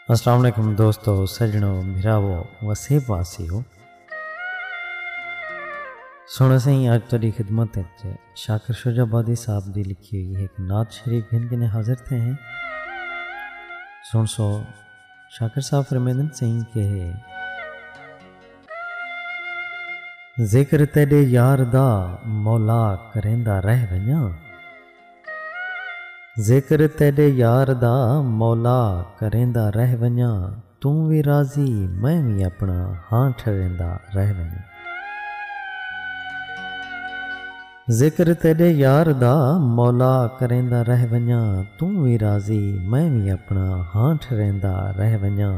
السلام علیکم دوستو سجنو بھراو وسیب واسیو سونا سائیں اج تیری خدمت وچ شاکر شجاع آبادی صاحب دی لکھی ہوئی ایک نعت شریف گھن کے حاضر تھے ہیں سن سو شاکر صاحب فرمیدن سائیں کہ ذکر تیرے یار دا مولا کریندا رہ ونجاں ذکر تیݙے یار دا مولا کریندا رہ ونڄاں توں وی راضی میں وی اپݨا ہاں ٹھریندا رہ ونڄاں۔ ذکر تیݙے یار دا مولا کریندا رہ ونڄاں توں وی راضی میں وی اپݨا ہاں ٹھریندا رہ ونڄاں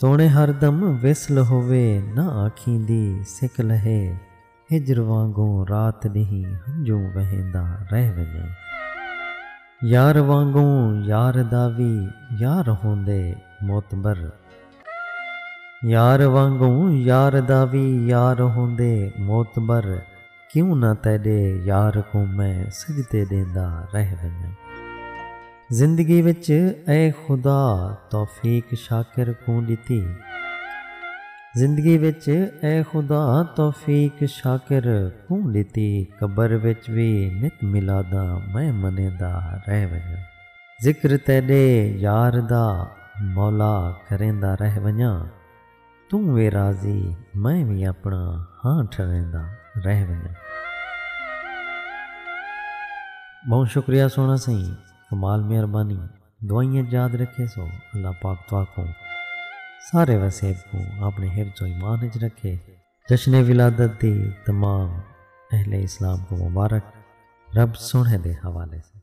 توݨے ہر دم وصل ہووے نہ آکھیں دی سک لہے ہجر وانگوں رات ݙینہہ ہنجوں وہیندا رہ ونڄاں یار وانگوں یار دا وی یار ہوندے معتبر یار وانگوں یار دا وی یار ہوندے معتبر۔ کیوں نہ تیڈے یار کوں میں سجدے ڈیندا رہ ونجاں۔ زندگی وچ اے خدا توفیق شاکر کوں ڈتی۔ زندگی وچ اے خدا توفیق شاکر کوں ڈتی۔ قبر وچ وی نت میلاداں میں منیندا رہ ونجاں۔ ذکر تیڈے یار دا مولا کریندا رہ ونجاں۔ توں وی راضی میں وی اپݨا ہاں ٹھریندا رہ ونڄاں۔ ٻہوں شکریہ سوہݨا سئیں کمال مہربانی دعائیں اچ یاد رکھیسو اللہ پاک تہاکوں سارے وسیب کوں آپݨے حفظ و ایمان اچ رکھے جشن ولادت دی تمام اہل اسلام کوں مبارک رب سوہݨے دے حوالے سئیں۔